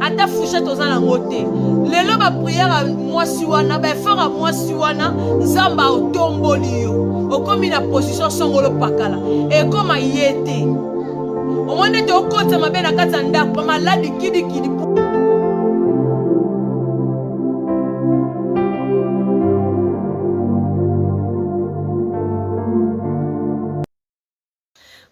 ata fouchette oza nango te lelo bapriere ya mwasi wana baefort ya mwasi wana nzambe aotomboli yo okomi na position songolo pakala ekoma ye te omoni ete okotisa mabe na kati ya ndako bamaladi kidikidi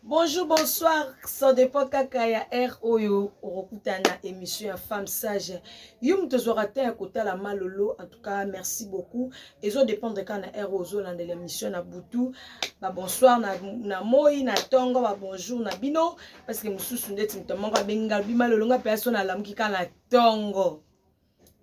Bonjour, bonsoir. Ça dépend kaka ya heure oyo okuta na émission ya femme sage. Yo mutu ozwaka temps ya kotala malolo. En tout cas, merci beaucoup. Ezo dépendre kaka na heure ozo landela émission na butu. Ba bonsoir na na moi na tongo ba bonjour na bino parce que mususu ndeti mutu moko abenga bi malolo nga pe aso na lamuki kaka na tongo.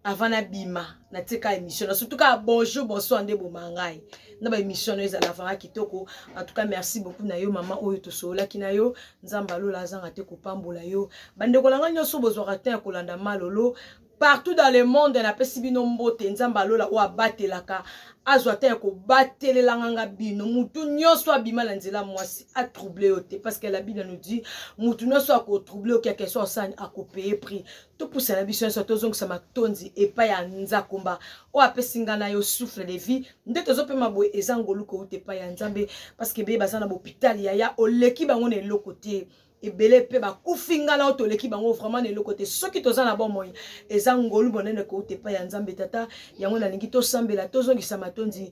avant nabima natie ka émission na surtout kaka bonjour bonsoir nde eboma ngai na ba émission na yo ezala vraiment kitoko en tout cas merci beaucoup na yo mama oyo tosololaki na yo nzambe alola azanga te kopambola yo bandeko na ngai nyonso bozwaka ntan ya kolanda malolo partout dans le monde napesi bino mbote nzambe alola oyo abatelaka azwa ata ya kobatelelanga nga bino mutu nyonso abima na nzela mwasi atrouble yo te parce que la bible nous dit mutu nyonso akotrouble yo quelque soit osani akopeye prix topusana biso nyonso tozongisa matondi epai ya nzakomba oyo apesi ngai na yo souffle de vie nde tozopema boye eza ngolu kouta epai ya nzambe parceke ebele baza na bopitali yaya oleki bango na eloko te ebele mpe bakufi ngai na yo toleki bango vraiment na eloko te soki toza na bomoi eza ngolu monene kouta epai ya nzambe tata yango nalingi tosambela tozongisa matondi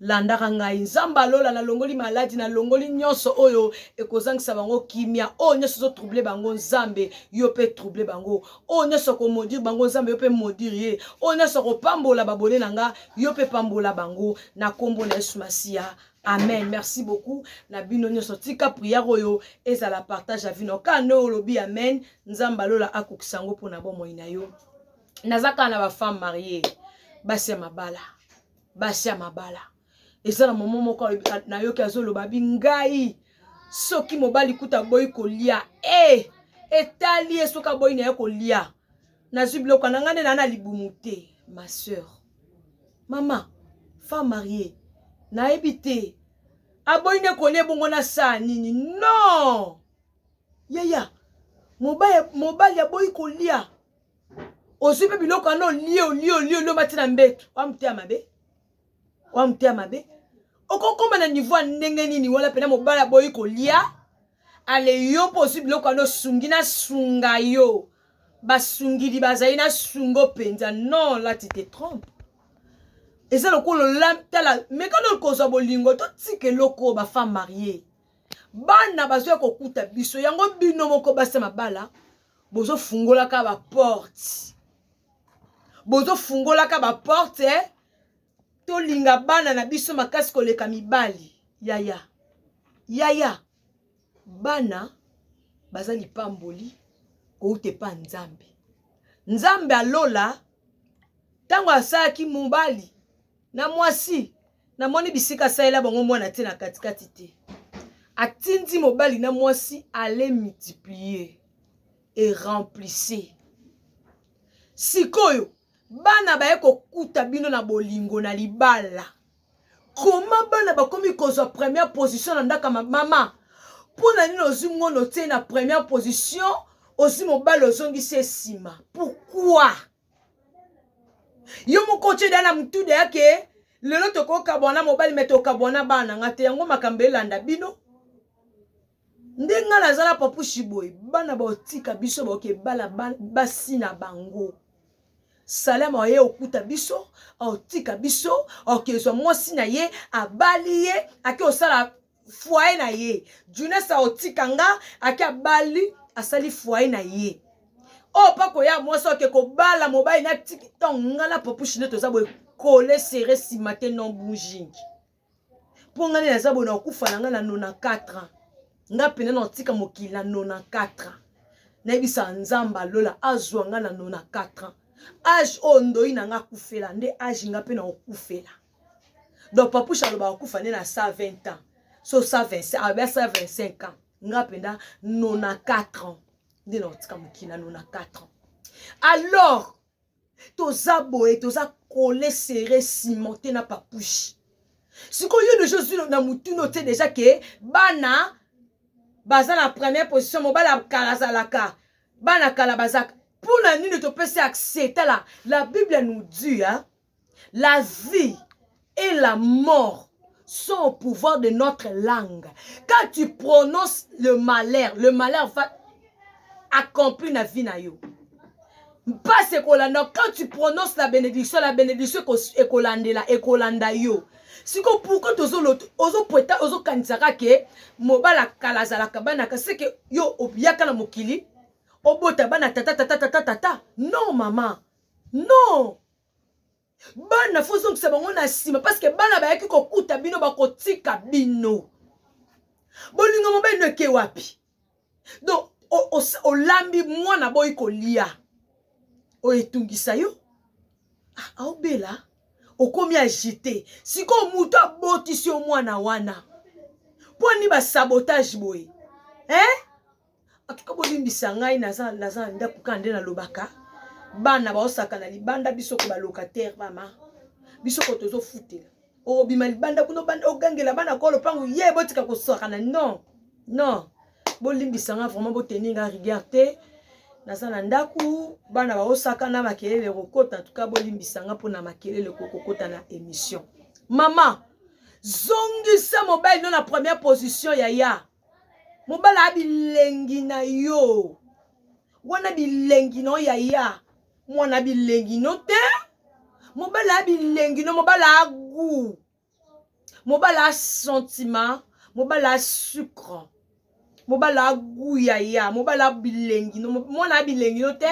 Landaka ngai, Nzambe ya lola, nalongoli maladi, nalongoli nyonso oyo ekozangisa bango kimia, oyo nyonso ezo trouble bango, Nzambe yo pe trouble bango, oyo nyonso ko maudire bango, Nzambe yo pe maudire ye, oyo nyonso ko pambola babone na nga, yo pe pambola bango na kombo na Yesu Masiya. Amen. Merci beaucoup na bino nyonso. Tika prière oyo ezala partage ya vino. Ka no olobi amen, Nzambe lola akokisa yango pona bomoi na yo. Naza kaka na ba femme mariée, basi ya mabala. basi ya mabala eza na momo moko nayoki azoloba bi ngai soki mobali kuta boyi kolia e eh, etali ye soki aboyi na ye kolia nazwi biloko na ngai nde naa na libumu te ma sœur mama femme marie nayebi te aboyi nde kolia ebongo na saa nini non yaya mobali aboyi kolia ozwi mpe biloko wana olie olie olie olie omati na mbetu oya moteya mabe oya moteya mabe okokoma na niveau ya ndenge nini wana mpena mobali aboyi kolia ale yo mpo ozwi biloko wana osungi na sunga yo basungidi bazali na sungo mpenza non la tu te trompe eza lokola olatala meka nde kozwa bolingo totika eloko oyo bafemme marie bana bazoya kokuta biso yango bino moko basi ya mabala bozofungolaka baporte bozofungolaka baporte eh? tolinga bana na biso makasi koleka mibali yaya yaya bana baza lipamboli kouta epa nzambe nzambe alola ntango asalaki mobali na mwasi namoni bisika asalela bango mwana te na katikati te atindi mobali na mwasi ale multiplier e remplisse sikoyo bana baye kokuta bino na bolingo na libala koma bana bakomi kozwa première position na ndaka mama mpo na nini ozwi ngono te na première position ozwi mobali ozongisi ye nsima pourkui yo moko otye deya na motu deya ke lelo tokokabwana mobali me tokabwana bana nga te yango makambo elanda bino nde nga nazala papushi boye bana baotika biso baoke bala basi na bango salama oye okuta biso aotika biso aokezwa mwasi na ye abali ye ake osala foyer na ye junes aotika nga ake abali asali foyer na ye oyo oh, mpako ya mwasi oke kobala mobali na tiki ntango nga na popushi nde toza boye kole sere nsima te non bouging mpo nga nde naza boye na kokufa na nga na 94 ans nga mpena na kotika mokili na 94 ans nayebisa nzambe alola azwa nga na 94 ans age oyo ndoi na nga akufela nde age nga mpe na kokufela donc papouche alobaka kufa nde na 120 ans so 125 abia 125 ans nga mpenza 94 ans nde nakotika mokili na 94 ans alors toza boye toza kole sere cimente na papouche sikoyo yo deja ozwi na motuna otie deja ke bana baza na première position mobali ya kala azalaka bana kala bazaka mpo na nini topesi accès tala la bible nous dit hein? la vie et la mort sont au pouvoir de notre langue. Quand tu prononces le malheur, le malheur va accomplir la vie na yo. mpasi ekolanda quand tu prononce la bénédiction la bénédiction ekolandela ekolanda yo siko pourkui ozopweta ozokanisaka ke mobala kala azalaka banaka seke yo oyaka na mokili obota bana tata tata tata tata non mama non bana fo ozongisa bango na nsima parceke bana bayaki kokuta bino bakotika bino bolingo mobali no eke wapi donc olambi mwana boyi kolia oyo etungisa yo ah, aobela ah, okomi agite sikoyo moto abotisi yo mwana wana mpo ni basabotage boye eh? en tout cas bolimbisa ngai naza naza na ndako kaka nde nalobaka bana baosaka na libanda biso ko balocataire mama biso ko tozofutela obima libanda kuna obanda ogangela bana kwa lopango ye botika kosakana non non bolimbisa nga vraiment boteni nga rigueur te naza na ndako bana baosaka na makelele kokota en tout cas bolimbisa nga mpona makelele kokokota na émission mama zongisa mobali no na première position yaya mobala ya bilengi na yo wana bilengi na yo yaya mwana bilengi no te mobala ya bilengi no mobala ya gout mobala ya sentiment mobala ya sucre mobala ya gout yaya mobala ya bilengi no mwana ya bilengi no te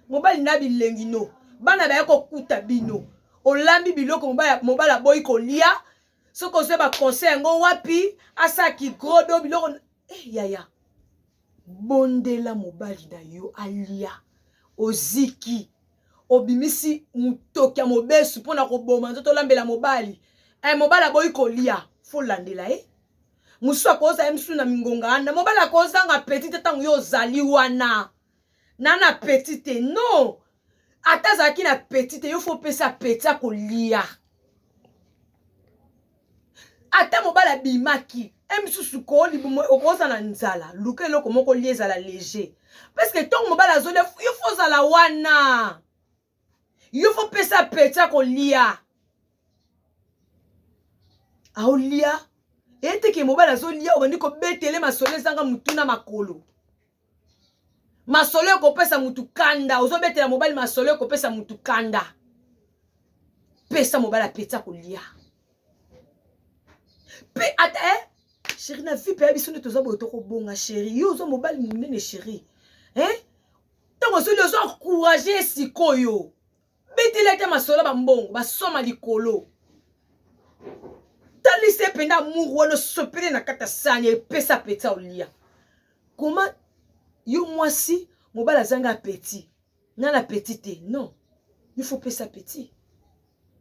mobali na bilengi no bana baye kokuta bino olambi biloko mobala boyi kolia soki ozwa ba conseil yango wapi asala kigrodo biloko eh, yaya bondela mobali na yo alia oziki obimisi motoki ya mobesu mpo na koboma nzoto olambela mobali e, mobali aboyi kolia folandela ye eh? mosusu akozala ye mosusu na mingonga wana mobali akozanga peti te ntango yo ozali wana na na petit te non ata azalaki na petit te yo fo opesa petit akolia ata mobali abimaki e misusu okoza na nzala luka eloko moko lia ezala leger parceke ntongo mobali azolia yo fo ozala wana yo fo pesa pecha kolia aolia eyeteke mobali azolia obandi kobetele masolo ezanga motu na makolo masolo ekopesa motu kanda ozobetela mobali masolo ekopesa motu kanda pesa mobali apeti akolia mpe ata eh, sheri na vipe ya biso nde toza boye tokobonga sheri yo oza mobali monene sheri eh? ntango osoli ozo encourage ye sikoyo beteli ata masolo bambongo basoma likolo talisa ye mpenza amour wana osopele na kati ya sani epesa apeti olia koma yo mwasi mobali azanga apeti nga na apeti te non il faut pesa apeti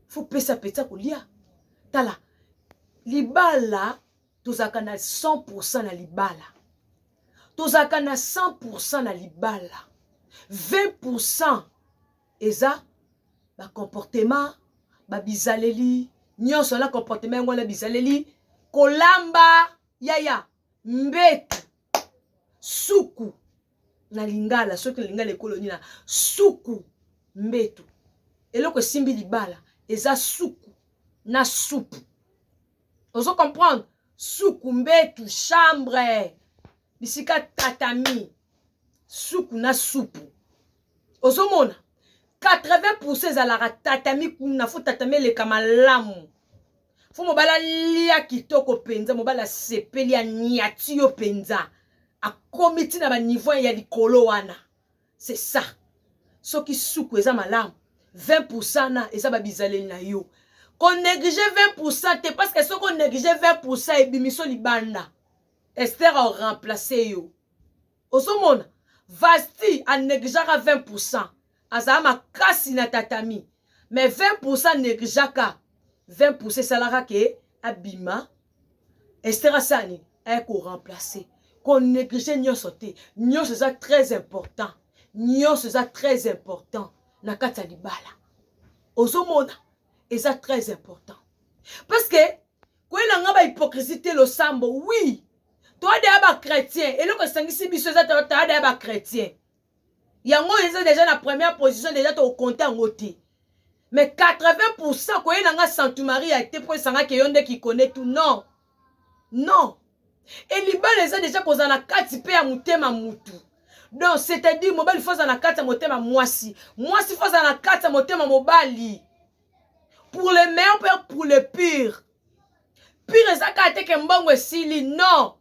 faut pesa apeti akolia tala libala tozalaka na 100% na libala tozalaka na 100% na libala 20% eza bacomportement babizaleli nyonso na comportement yango wana bizaleli kolamba yaya mbetu suku na lingala soki na lingala ekolo nini na suku mbetu eloko esimbi libala eza suku na supu ozo comprendre suku mbetu chambre bisika tatami suku na supu ozomona 80 pourcent ezalaka tatami kuna fo tatami eleka malamu fo mobali alia kitoko mpenza mobali asepeli aniati yo mpenza akomi ntina baniveau ya likolo wana C'est ça. Soki suku eza malamu, 20% na eza ba bizaleli na yo. Ko neglige 20% te parce que soki o neglige 20% ebimiso libanda. Esther a remplacer yo. Ozomona Vasti a negligaka 20%. Azala makasi na tatami. Mais 20% negligaka 20% esalaka ke abima Esther asala nini? Aye ko remplacer. Ko negliger nyonso te. Nyonso eza très important. Nyonso eza très important na kati ya libala. Ozomona eza très important. Parce que koyela nga ba hypocrisie te losambo. Oui. Toade ya ba chrétien. Eloko esangisi biso eza toade ya ba chrétien. yango oyo eza deja na première position deja tokokonte yango te mais 80 pourcent koyela nga santu maria te mpo esangaki eyo nde kikone tu non non e libala eza deja kozala na kati mpe ya motema mutu donc c'est-à-dire mobali fo azala na kati ya motema mwasi mwasi fo azala na kati ya motema mobali pour le meilleur mpe pour le pire pire eza kaka te ke mbongo esili non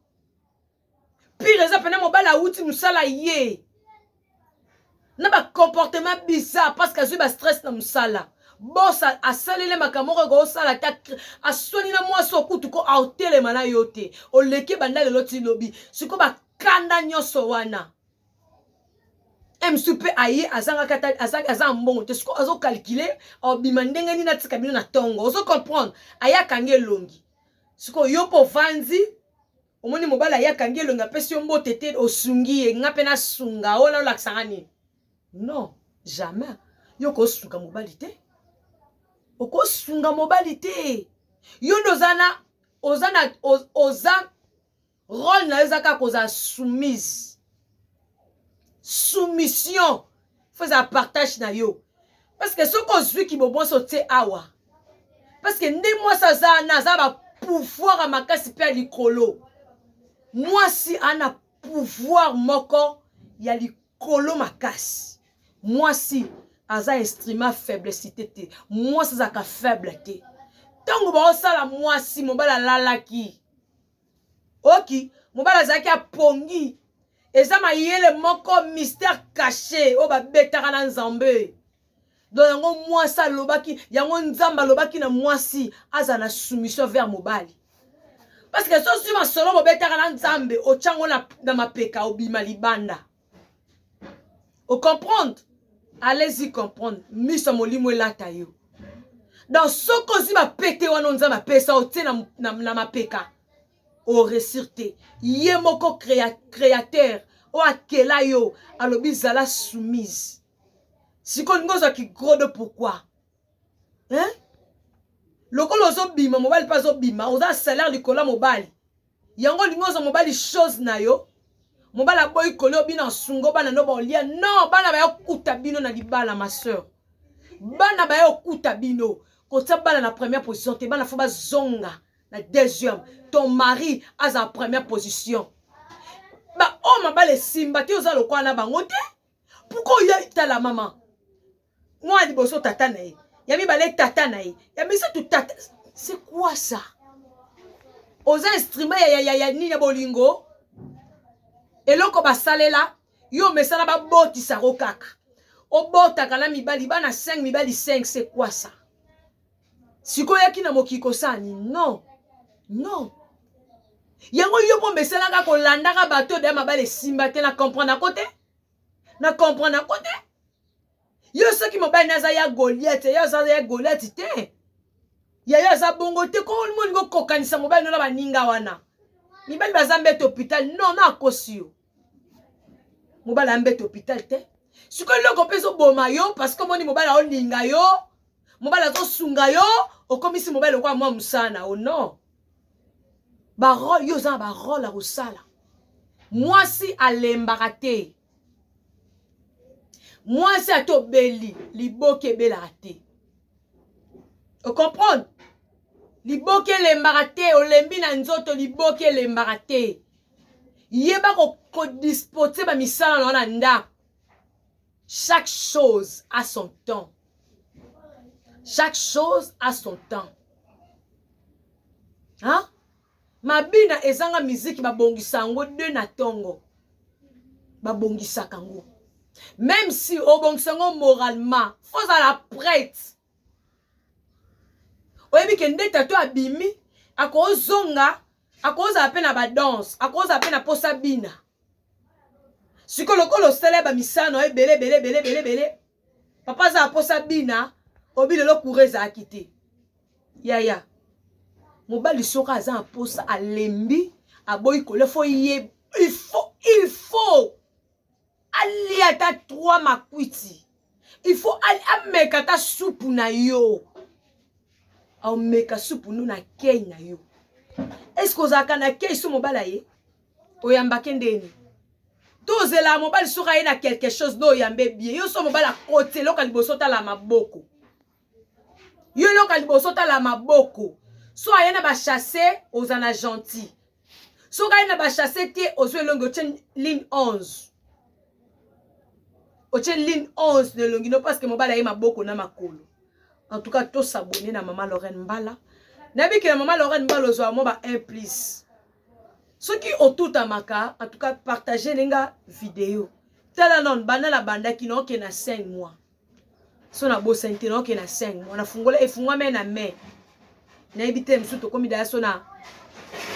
pire eza pena mobali awuti mosala ye na bacomportement bizarre parce que azwi bastress na mosala bos asaleli makambo moko ekosala ata aswani na mwasi okutu ko aotelema na yo te oleki banda lelo ti lobi siko bakanda nyonso wana msu mpe aye azangaka ata aza ya mbongo te siko azokalkile obima ndenge nini atika bino na ntongo ozo comprendre aye akangi elongi siko yo mpe ovandi Omoni mobali aye akangi elongi apesi yo mbote te osungi ye nga mpe nasunga ola olakisa nga nini non jamais yo okosunga mobali te okosunga mobali te yo nde oza na oza na oza role na yo eza kaka kozala soumise soumission faut ezala partage na yo parce que soki ozwi kibobonso otye awa parce que nde mwasi aza ana aza ba pouvoir ya makasi mpe ya likolo mwasi ana pouvoir moko ya likolo makasi mwasi aza instrument faiblecité te mwasi azalaka faible te ntango baosala mwasi mobali alalaki oki mobali azalaki apongi eza mayele moko mystère caché oyo babetaka na nzambe don yango mwasi alobaki yango nzambe alobaki na mwasi azala na soumission vers mobali parceke sozwi masolo bobetaka na nzambe otyango na, na mapeka obima libanda o comprendre allez-y comprendre miso ya molimo elata yo donc soki ozwi bapete wana nzambe apesa otie na, na, na mapeka oresir te ye moko crea, créateur oyo akela yo alobi zala soumise sikoyo olingi ozwa kigrodo pourkui hein? lokola ozobima mobali mpe azobima oza salaire likolo ya mobali Yango olingi ozwa mobali chose na yo mobali aboyi kolio bino asungo bana no baolia non bana baya kokuta bino na libala ma soeur bana baya kokuta bino kotia bana na première position te bana fo bazonga na deuxième ton mari aza na première position baoyo oh, mabala esimba te oza lokola na bango te pourkoi oya tala mama mwana liboso tata na ye ya mibale tata na ye ya misato tata c'est quoi ça oza instrument ya, ya, ya, ya nini ya bolingo eloko basalela yo omesana babotisa yango kaka obotaka na mibali bana 5 mibali 5 c'est quoi ça sikoyo yaki na mokili kosala nini non non yango yo mpo omesanaka kolandaka bato oyo deya mabala esimba te na comprendre yango te na comprendre yango te yo soki mobali na aza ya goliate yayo aza ya goliate te yayo aza bongo te komoni kokokanisa mobali no na baninga wana mibali baza mbete hopital non no akosi yo mobali ambete hopital te sikoyo eloko mpe ezoboma yo parceke omoni mobali aolinga yo mobali azosunga yo okomisi mobali lokola mwa mosala na o non barole yo oza na barole ya kosala mwasi alembaka te mwasi ata obeli liboke ebelaka te ocomprendre liboke elembaka te olembi na nzoto liboke elembaka te yeba kodispose ko bamisala na yo na ndako chaque chose a son temps chaque chose a son temps hein? Mabina ezanga miziki babongisa yango de na tongo babongisaka yango meme si obongisa yango moralement fo ozala prete oyebi ke nde tato abimi akozonga akozala mpe na badanse akozala mpe na mposa bina sikoyo lokola osala ya bamisano ebele ebele ebele ebele ebele papa aza na mposa bina obi lelo kura ezalaki te yaya mobali soki aza na mposa alembi aboyi kolia fo ye il faut il faut alia ata trois makwiti il faut ameka ata supu na yo aomeka supu no na kei na yo eske ozalaka na kei so mobala ye oyamba kendeni tozelaa mobali soki aye na quelque chose nde oyambe bie yo so mobali akoti eloka liboso otala maboko yo eloka liboso otala maboko so aye na bachasse oza na gentil soki aye na bachasse te ozwi elongi otye ligne 11 otye ligne 11 na elongi no parceke mobali aye maboko na makolo en tout cas tosabone na mama lorraine mbala nabikela mama lorraine mbala ozwa mwa ba 1 plus soki otutamaka en tout cas partage ne nga video tala nano banda nabandaki naoke na 5 mois so nabosani te naoke na 5 mois nafungola efungwami na mai nayebi te mosusu tokomi daya so na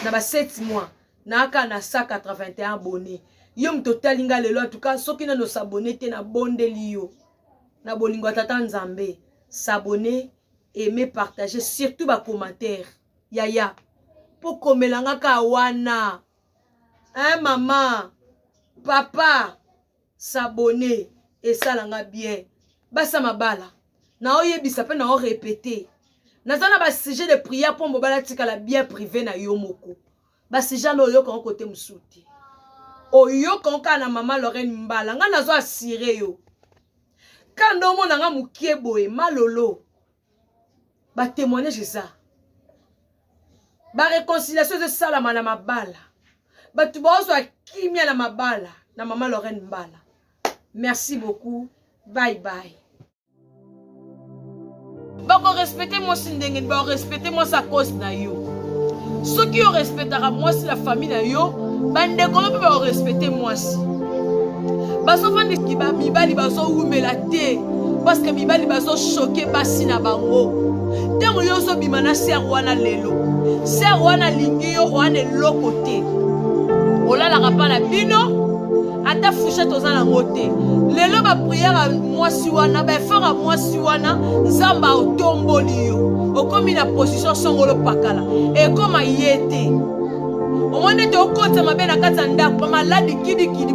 na ba 7 mois naaka na 181 abonne yo moto otali nga lelo atuka soki nano sabone te nabondeli yo na bolingo ya tata nzambe sabone aime partage surtout bacommentaire Yaya po komela nga ka wana hein maman papa s'abonner esala nga bien basi ya mabala nao yebisa pe nao repeter naza na ba sujet de prière po mobala atikala bien prive na yo moko ba sujet na oyoka ngo kote mosusu te oyoka ngo kaka na mama Lorraine mbala nga nazo assurer yo kanda omona nga mokie boye malolo ba témoignage eza ba réconciliation ezosalama na mabala bato baozwa kimia na mabala na mama lorraine mbala merci beaucoup bye bye bakorespecte mwasi ndenge nini bakorespecte mwasi akosi na yo soki yo respectaka mwasi na famille na yo bandeko no mpe baorespecte mwasi bazofandiki bamibali bazowumela te parceke mibali bazoshoke basi na bango ntango yo ozobima na ser wana lelo ser wana alingi yo wana eloko te olalaka mpa na bino ata fouchette oza nango te lelo bapriere ya mwasi wana baefort ya mwasi wana nzambe aotomboli yo okomi na position songolo pakala ekoma ye te omoni ete okotisa mabe na kati ya ndako bamaladi kidikidi